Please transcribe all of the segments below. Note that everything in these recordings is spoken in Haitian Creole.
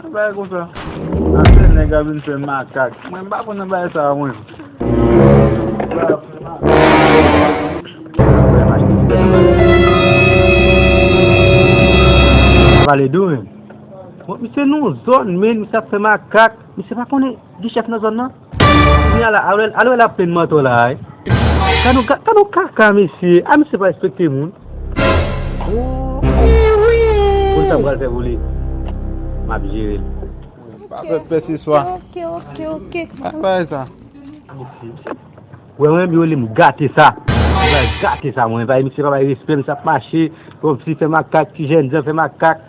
Yon bagay konsa. Ase nèg ap vin fè makak. Mwen m pa konn nan bagay sa a mwen. Nèg la ap fè makak. Vale dou menm. Misye nan yon zòn men, misye ap fè makak. Misye pa konnen gen chèf nan zòn nan. Kounya la alwèl alwèl ap plenn mantò la wi. Tan nou tan nou kaka mesye a misye pa respekte moun. Poul sa pral fè pou li map jerel. Pa fè pè se swa. Bay bay sa. Wè mwen menm yo relem gate sa. Mwen pral gate sa mwen. Misye pa bay respè misye ap mache. Fè makak ti jènjan fè makak.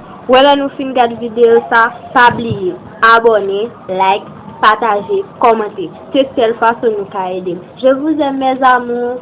Wè lè nou fin gad video sa pa bliye abone like pataje kòmante se sèl fason nou ka edem je vous aime mes amours.